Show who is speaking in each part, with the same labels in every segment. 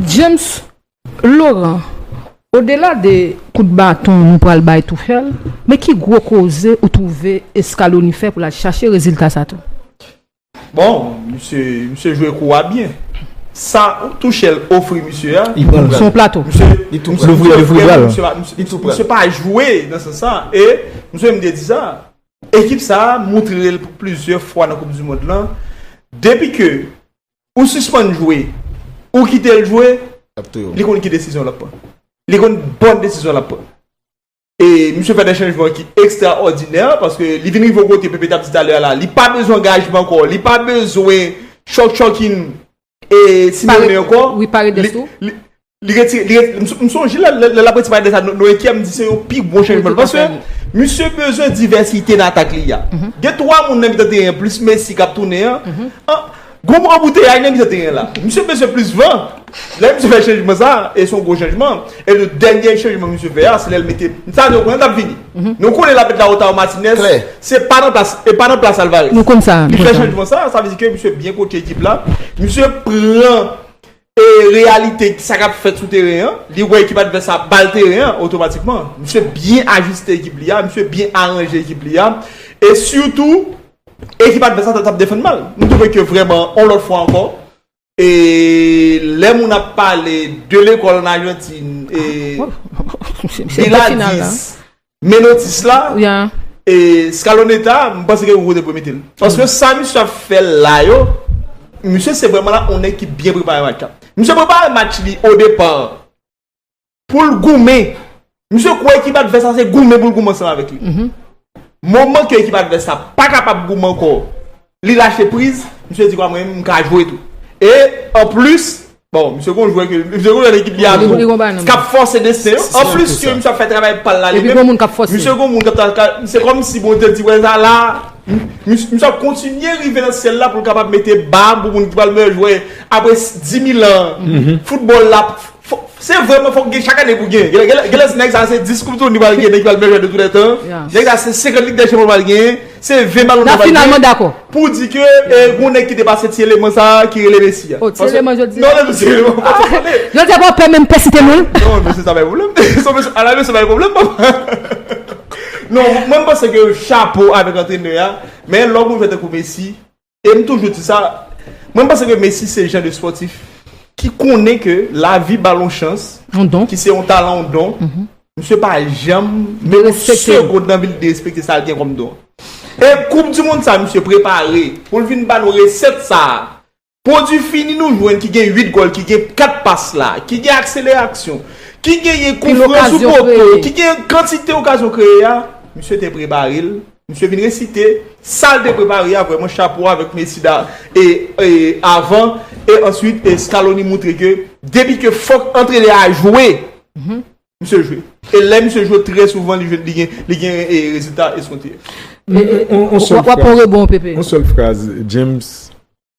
Speaker 1: James Laurent, Odela de kout baton nou pral bay Tuchel, men ki gwo koze ou twouve Scaloni fè pou l al chache rezilta sa tou? Bon,
Speaker 2: misye, misye jwe kou a byen. Sa Tuchel ofri misye a. Li pran l. Se yon plato.
Speaker 1: Misye, li tou pran l. Li louvri bra l. Misye pa, misye,
Speaker 2: li tou pran l. Misye pa jwe nan sans sa. E, misye menm te di sa. Ekip sa a montre l pou plizyè fwa nan koup di mond lan. Depi ke Ou sispann jwe, ou kite l jwe, li konn ki desizyon l ap pran. Li konn bon desizyon l ap pran. E misye fè de chanjman ki ekstraòdinè, paske li vin rive yon kote Pepe t ap di talè a la, li pa bezwen angajman ankò, li pa bezwen chòk chòkin e Simeone ankò. Wi, Paredes tou.
Speaker 1: Li retire, li retire,
Speaker 2: m sonje lè l ap retire pale de sa nou ekri a m di se yon pi gwo chanjman paske misye bezwen divèsite nan atak li a. Gen 3 moun nan mitan teren plis Messi k ap tounen an, gon bon anbouteyay nan mitan teren la. Misye bezwen plis van. Lè misye fè chanjman sa a e se yon gwo chanjman e le dènye chanjman misye fè a se lè l mete, sa nou konnen l ap vini. Nou konnen l ap met Lautaro Martinez, se pa nan plas, e pa nan plas Alvarez. Nou konn sa. Li fè chanjman
Speaker 1: sa a, sa vle
Speaker 2: di ke misye byen kotche ekip la. Misye pran. E reyalite sa kap fèt sou teren an, li wè ekip advès la bal teren an otomatikman. Misye byen ajiste ekip li a, misye byen aranje ekip li a. E sitou, ekip advès la tap defann mal. M twouve ke vrèman, on lòt fwa ankò, e lè moun ap pale de lekòl an Ajantin, e Biladis. Menotis la e scaloneta m panse ke Hugo te dwe mete l. Paske sa misye ap fè la yo, misye se vrèman la yon nèg ki byen prepare match la. Misye prepare match li o depa pou l goumen. Misye kwè ekip advès la se goumen pou l goumen ansanm avèk li. Moman ke ekip advès la pa kapab goumen ankò Li lache priz, misye di kòm m ka jwe tou. E an plis, bon misye gon jwè ke, misye gon lòt ekip li ap jwe, kap fòse desten yo, an plis ke misye ap fè travay pal la li menm, misye
Speaker 1: gon moun kap
Speaker 2: ta, se kòm si Bondye di wè sa la, misye ap kontinye rive nan syèl la pou l kapab mete bab pou moun ki pral meyè jwè apre 10000 an foutbòl la. Se vre men fok gen chak ane pou gen Genlè nèg sa se 10 koup touni li pral gen nèg ki pral meyè jwè tou lètan Nèg sa se 50 lig dèchanp li pral gen Se 20 balon dò li pral gen Pou
Speaker 1: di ke
Speaker 2: gon nèg ki te pase ti eleman sa ki rele Messi a Ti
Speaker 1: eleman
Speaker 2: jodi a Yo te pa
Speaker 1: pè menm pèsite non Non mesye sa bay
Speaker 2: pwoblèm A la mesye bay pwoblèm papa Non mwen panse ke chapo avèk antrenè a Men lè w gon jwè tankou Messi E m toujou di sa, mwen panse ke Messi se jan de spòtif ki konnen ke lavi ba l yon chans, ki se yon talan, yon don, misye pa janm menm yon segond nan vi l derespekte sa l gen kòm don. E koup di mond sa misye prepare pou l vin ba nou resèt sa, pwodui fini nou jwenn ki gen 8 gòl, ki gen 4 pas la, ki gen akseleraksyon, ki genyen koufran sou poto, ki gen kantite okazyon kreye a, misye te prepare l. Misye vin resite sal te prepare a vreman chapo avek mesi da e avan e answit e scaloni moutre ke depi ke fok antrenè a jwe misye jwe e lè misye jwe trè souvan li gen e rezilta eskonte.
Speaker 3: Wap on rebon pepe. On sel fraz James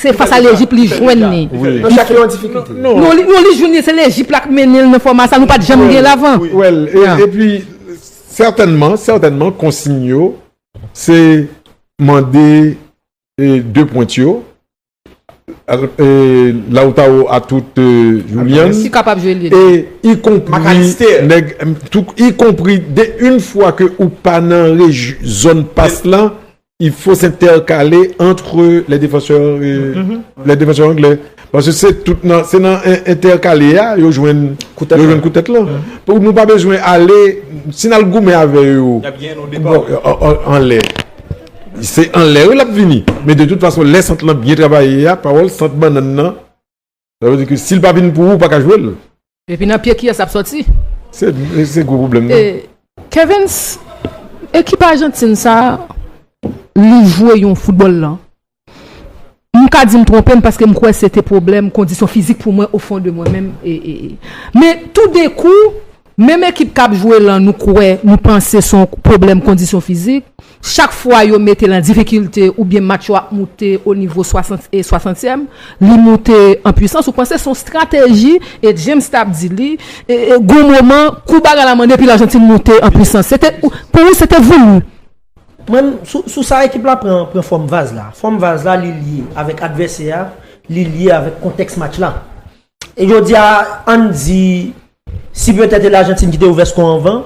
Speaker 1: Se fas a Lejip li jwenn li.
Speaker 4: Nan chak yo an difikilte. Non li jwenn
Speaker 1: li se Lejip la k mennen l nan fòma sa nou pat janm gen l avan. Wèl epi
Speaker 3: sètènman sètènman konsiy yo se mande de pwent yo Lautaro atout Julian ki kapab jwe lye
Speaker 1: de ikonpri
Speaker 3: ikonpri de yn fwa ke ou pa nan zòn pas lan il faut s'intercaler entre les défenseurs euh, mm-hmm. les défenseurs anglais parce que c'est tout nan c'est nan intercaler a yo jwenn yo jwenn koutèt là mm-hmm. pou nou pa bezwen ale si nan goumen avè yo en l'air c'est en l'air l ap vini mais de toute façon les centres là bien travaillé a parole centre banane nan Sa vle di ke si l pa vin pou ou, ou pa ka jwe l. Epi nan pye
Speaker 1: kiyès lap sòti?
Speaker 3: Se gwo pwoblèm nan. Kevens,
Speaker 1: ekip Ajantin sa a, li jwe yon foutbòl lan. M ka di m twonpe m paske m kwè se te pwoblèm kondisyon fizik pou mwen ofon de mwen menm. Men toudenkou, Menm ekip kap jwe lan nou kwè nou panse son pwoblèm kondisyon fizik, chak fwa yo metel an difikilte oubyen match yo ap moute o nivo 60 e 60 tièm, li moute an pwisans ou panse son strateji e James tap di li gon moman kou bagay la mande pi Largentine moute an pwisans se te pou ou se te voulu? Mwen
Speaker 5: sou sa ekip la pran fòm vaz la. Fòm vaz la li lye avèk advèsè a, li lye avèk kontèks match la. Jodi a, ann di, si petèt e Lajantin ki te ouvè sko anvan,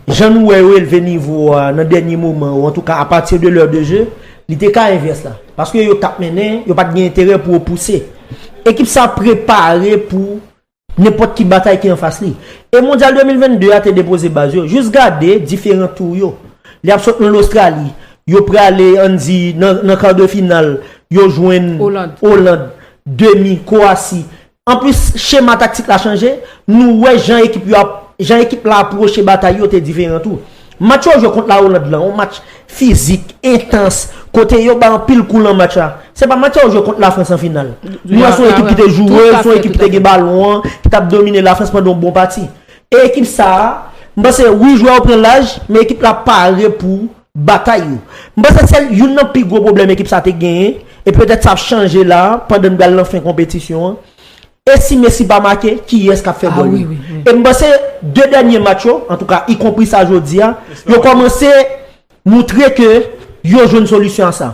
Speaker 5: jan nou wè yo elve nivo a nan dènye moman ou antouka apati de lè de je, li te ka envès la. Paske yo t ap mennen, yo pa t gen enterè pou yo pouse. Ekip sa prepare pou nenpòt ki batay ki anfas li. E Mondyal 2022 a te depoze baz yo. Jis gade diferan tou yo. Li ap sot nan Lostrali, yo prale ann di nan kar de final, yo jwenn Oland. Demi, Kowasi. Anplis, chema taktik la chanje, nou wè jan ekip yo ap, jan ekip la apwoche batay yo te diferan tou. Match yo jwe kont La Oland lan, yon match fizik, entans, kote yo bay anpil kou lan match la. Se pa match sa yo jwe kont Lafrans an final. Nou wè se yon ekip ki te joure, se yon ekip ki te gen balon an, ki t ap domine Lafrans pandan yon bon pati. E ekip sa a, m panse wi jwè yo pran laj, men ekip la pare pou batay yo. M panse se youn nan pi gwo pwoblèm ekip sa te genyen e petèt sa ap chanje la a pandan n pral nan fen konpetisyon an. E si Messi pa make, kiyès k ap fè gòl yo? E m panse 2 dènye match yo, antouka ikonpri sa jodi a, yo kòmanse moutre ke yo jwenn solisyon a sa.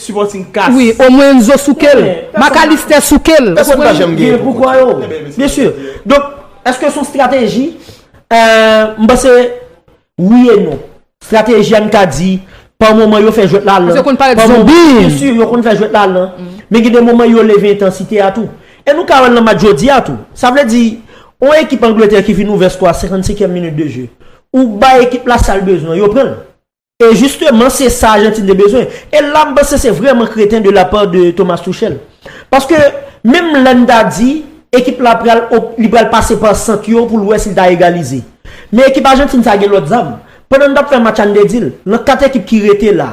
Speaker 2: Supporting cast. Wi o mwen enzo
Speaker 1: soukel. Macallister soukel. Ou konprann gen poukò
Speaker 5: yo. Bien sûr. Donk eske son strateji? M panse wi e non. Strateji a m ka di pa moman yo fè jwèt la lan. Yo konn parèt zonbi.
Speaker 1: Bien sûr yo konn fè
Speaker 5: jwèt la lan. Men gen de moman yo leve entansite a tou. E nou ka wè l nan match jodi a tou. Sa vle di on ekip Angleterre ki vin ouvè sko a 55 èm minit de je. Ou bay ekip la sa l bezwen yo pran l. E jisteman se sa Ajantin te bezwen. E la m panse se vrèman kreten de la pa de Thomas Tuchel. Paske menm lè n ta di ekip la pral li pral pase pa sant yo pou l wè si l ta egalize. Men ekip Ajantin sa gen lòt zam. Pandan n t ap fè match an n te di l, nan 4 ekip ki rete la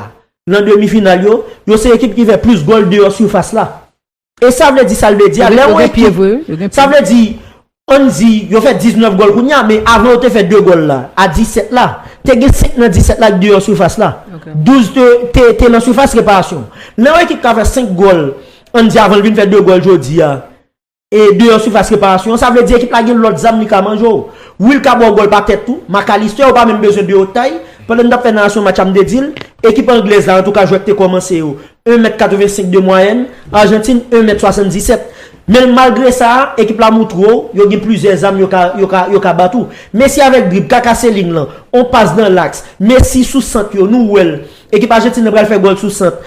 Speaker 5: nan demi final yo, yo se ekip ki fè plis gòl deyò sifas la. E sa vle di sa l vle di a, lè yon ekip, sa vle di, an n di, yo fè 19 gòl kounye a, men avan yo te fè 2 gòl la, a 17 la, te gen 5 nan 17 la ki deyò sifas la. 12 te nan sifas reparasyon. Lè yon ekip ka fè 5 gòl, an n di avan l vin fè 2 gòl jodi a, e deyò sifas reparasyon an, sa vle di ekip la gen lòt zam li ka manje w. Wi l ka ba w gòl pa tèt tou, McAllister ou pa menm bezwen deyò tay, pandan n t ap fè narasyon match la m te di l, ekip anglèz la antouka jwèt te kòmanse yo, 1 mèt 85 de mwayèn, Arjantin 1 mèt 77. Men malgre sa, ekip la moutre w yo gen plizyè zam yo ka bat ou. Messi avèk drib, Kaka se ling lan, on pas dan laks, Messi sou sant yo, nou wè l. Ekip Arjantin nan pral fè gòl sou sant.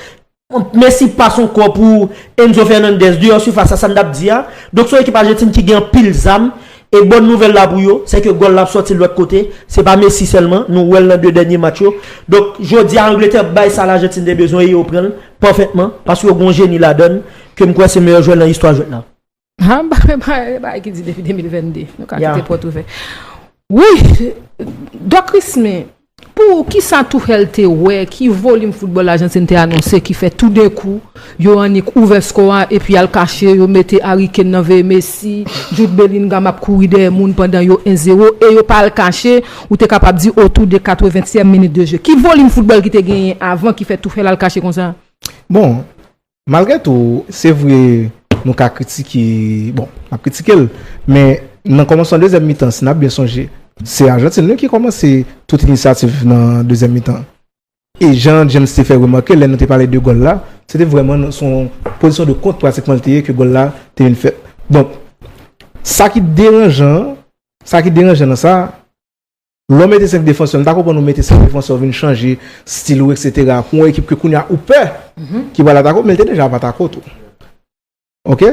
Speaker 5: Messi pas on kò pou Enzo Fernandez, deyò sifas la, sa n t ap di a. Donk se yon ekip Arjantin ki gen anpil zam, E bòn nouvèl la pou yo, se ke gòl la ap sòti lòt kote, se pa Messi sèlman, nou wè l nan 2 dènye match yo. Donk, jodi a Angletè bay sa Lajantin te bezwen e yo pran l pafètman, paske yo gen yon jeni ladan l, ke m kwè se meyè jwè nan istwa jwèt la. An, ba men
Speaker 1: ba e bagay ki di depi 2022. Nou ka kite pòt ouvè. Wouyy! Doc Christmy! Pou ou, ki sa Tuchel te wè, ki volim foutbòl Ajantin te anonse ki fè toudenkou yo annik ouvè skò a epi al kache, yo mete Harry Kane nan veye Messi, Jude Bellingham ap kouri dèyè moun pandan yo 1 zero e yo pa al kache, ou te kapab di otou de 80 tièm minit de je. Ki volim foutbòl ki te genyen avan ki fè Tuchel al kache konsa? Bon,
Speaker 6: Malgre tou, se vre nou ka kritike, bon, n ap kritike l, men nan kòmansman dezyèm mitan, si n ap byen sonje, se Ajantin wi ki kòmanse tout inisyativ nan dezyèm mitan an. E jan James te fè remake lè nou te pale de gòl la, se te vrèman nan son pozisyon de kont pratikman li te ye ke gòl la te vin fèt. Donk, sa ki deranjan, sa ki deranjan nan sa, Lè w mete 5 defansè, m ta konprann ou mete 5 defansè ou vin chanje stil ou eksetera pou yon ekip ke kounye a ou pè ki pral atake w men l te deja ap atake w tou. Ok?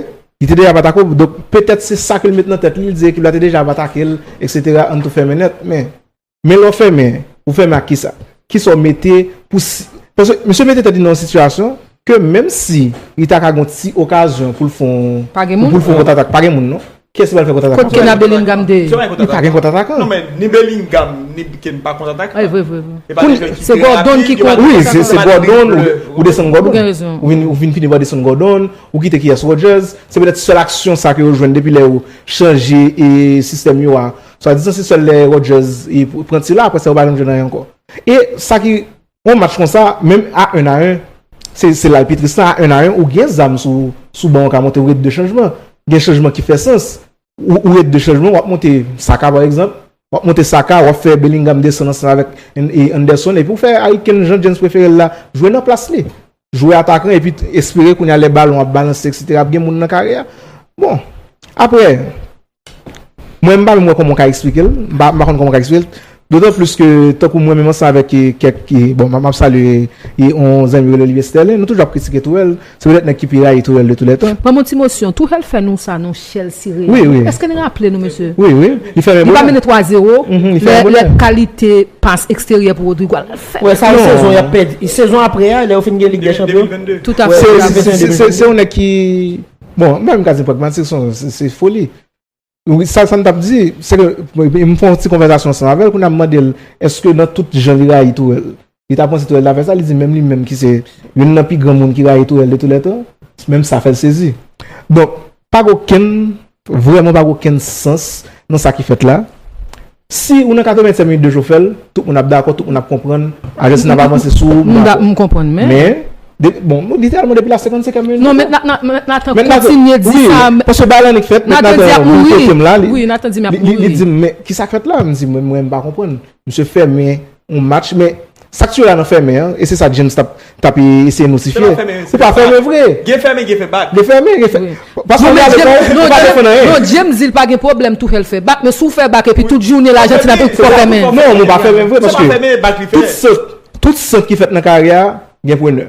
Speaker 6: Li te deja ap atake w donk petèt se sa ke l mete nan tèt li, li di ekip la te deja ap atake l eksetera ann tou fèmen nèt men men lè w fèmen ou fèmen ak kisa? Kisa w mete pou si paske misye mete tèt li nan yon sitiyasyon ke menm si li ta ka gen yon ti okazyon pou l fè yon pou l fè yon kontratak pa gen moun non. Kiyès ki pral fè kont atak la? Kot kena Bellingham te ye?
Speaker 1: Li pa gen kont atak
Speaker 6: an. Non men ni Bellingham
Speaker 2: ni Kane pa kont atak an. Evre evre evre. E pa de
Speaker 1: jwè ki trè rapid ki pral fè kont atak la. Wi se Gordon
Speaker 6: ou desann Gordon. Ou gen rezon. Ou vin fini pa desann Gordon, ou kite kiyès Rodgers. Se petèt sèl aksyon sa ke yo jwenn depi lè yo chanje sistèm yo a. Swadizan se sèl lè Rodgers pran ti la aprè sa yo pa janm jwenn anyen ankò. E sa ki On match konsa menm a 1 a 1 se la epi Tristan a 1 a 1 ou gen zam sou ou sou ban ou ka monte ou ret 2 chanjman gen chanjman ki fè sans ou ret 2 chanjman wap monte Saka pa egzanp wap monte Saka wap fè Bellingham desann ansanm avèk Anderson epi ou fè Harry Kane jan James prefere l la jwe nan plas li jwe atakan epi espere kounya lè balon ap balanse eksetera ap gen moun nan kare a bon aprè. Mwen m pa menm wè kòman w ka eksplike l, m pa konn kòman w ka eksplike l. Dotan plis ke tankou mwen menm ansanm avèk kèk, bon m ap salye yon zanmi rele Olivier Sterlin, nou toujou ap kritike Tourelle. Se petèt nèg ki pi rayi Tourelle de tou lè tan. Ban m yon ti mosyon. Tourelle
Speaker 1: fè nou sa non Chelsea Real. Wi, wi. Èske n raple
Speaker 6: nou mesye?
Speaker 1: Wi, wi. Li fèmen bonè. Li pa
Speaker 6: mennen 3 zero.
Speaker 1: Li fèmen bonè. Lè kalite pas eksteryè pou Rodrygo a l fè. Wè sa yon sezon
Speaker 5: y ap pèdi. Sezon apre a lè yo fin gen Lig dè Chanpyon. 2022. Tout apre.
Speaker 1: Se yon nèg ki.
Speaker 6: Bon, m pa menm ka di pragmatik, son, se foli. Sa m t ap di, se ke, m fè yon ti konvèzasyon ansanm avè l, kounye a m mande l, èske nan tout jan li rayi Tourel, li ta panse Tourel ta fè sa? Li di menm li menm ki se youn nan pi gran moun ki rayi Tourel de tou lè tan, menm sa fè l sezi. Donk, pa gen okenn, vrèman pa gen okenn sans nan sa ki fèt la. Si ou nan 85 minit de Jofèl, tout moun ap dakò, tout moun ap konprann, ajans nan ap avanse sou ou, m dakò. M konprann men.
Speaker 1: Men, bon, nou di
Speaker 6: tèlman depi la 55 minit. Non, mèt Nathan,
Speaker 1: mèt Nathan kontinye di sa. Wi, paske bagay lan li k fèt,
Speaker 6: mèt Nathan di ap
Speaker 1: mouri. Wi, Nathan di m ap mouri. Li di m, men, ki
Speaker 6: sa k fèt la? M di, mwen m pa konprann. Misye fèmen yon match men sak tu wè la nan fèmen an e se sa James tap tap eseye notifye ou pa fèmen vre gen fèmen gen fè bak gen
Speaker 2: fèmen gen fè
Speaker 6: paske li ale bay li pa defann anyen
Speaker 1: non James di li pa gen pwoblèm Tuchel fè bak men si w fè bak epi tout jounen lajantin ap fè bak non mwen pa fèmen vre
Speaker 6: paske tout sant tout sant ki fèt nan karyè a gen prenè.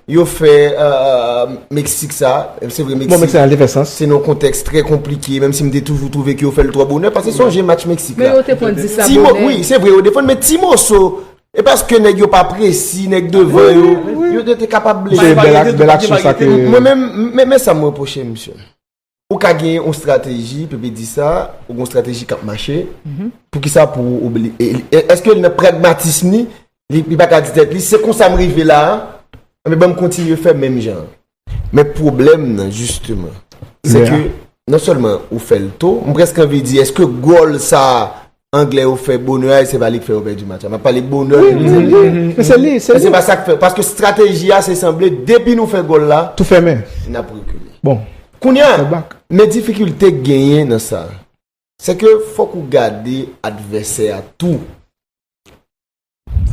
Speaker 4: Yo fè Meksik sa, se vre Meksik, se yon konteks trè konplike, menm si m te toujou twouve ki yo fè l twò bonè, paske sonje match Meksik la. Men yo te pran 10 la bonè.
Speaker 1: Wi, se vre yo defann,
Speaker 4: men ti moso, e paske nèg yo pa presi, nèg devan yo, yo te kapab blese.
Speaker 6: Mwen menm, men
Speaker 4: sa m reproche misye. Ou ka gen yon strateji, Pepe di sa, ou gen yon strateji k ap mache, pou ki sa pou ou, eske nan pragmatism li, li pa ka di tèt li, se konsa m rive la a, anben ban m kontinye fè menm jan an. Men pwoblèm nan jisteman, se ke non sèlman ou fè l to, m prèske anvi di eske gòl sa a Anglè yo fè bonè a e se pa li k fè yo pèdi match la. M ap pale bonè ke nou jwenn li a. Se li, se li. Se pa sa k fè. Paske strateji a se sanble depi nou fè gòl la.
Speaker 6: Tou
Speaker 4: fèmen. N ap rekile. Bon. Kounye a. Fè bak. Men difikilte k genyen nan sa. Se ke fòk ou gade advèsè a tou.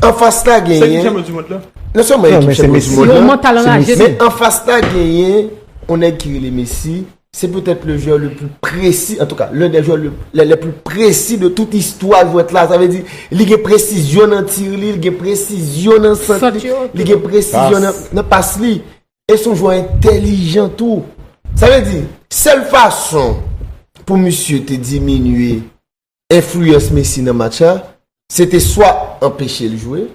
Speaker 4: An fas la genyen. Se ekip
Speaker 2: chanpyon di mond la. Non se mwen ekip chanpyon
Speaker 4: di mond la. Se yon mantal raje. Men an fas
Speaker 1: la
Speaker 4: genyen. On nèk ki rele Messi. Se petèt le jwè le plus presi. En tout ka, le de jwè le plus presi de tout istwa jwèt la. Sa ve di, li gen presizyon nan tir li, li gen presizyon nan sant li, li gen presizyon nan pas li. E son jwè entelijan tou. Sa ve di, sel fason pou misye te diminye enfliyans Messi nan match la, se te swa anpeche l jwe,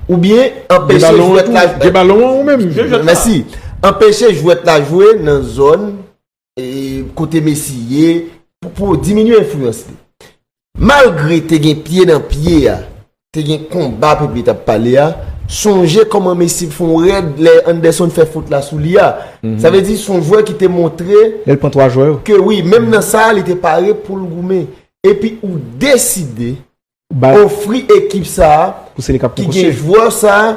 Speaker 4: oubyen anpeche jwèt la jwe. Gen balon an ou menm?
Speaker 3: Mèsi.
Speaker 4: Anpeche jwèt la jwe nan zòn kote Messi ye pou diminye enfliyans li. Malgre te gen pye nan pye a, te gen konba Pepe tap pale a sonje kòman Messi t fon rèd lè Anderson fè fot la sou li a sa vle di son jwè ki te montre Lèl pran 3 jwè yo.
Speaker 6: ke wi menm nan sa
Speaker 4: li te pare poul goumen epi ou deside
Speaker 6: Bay. ofri
Speaker 4: ekip sa Pou se li kap ki konkoche. gen jwè sa.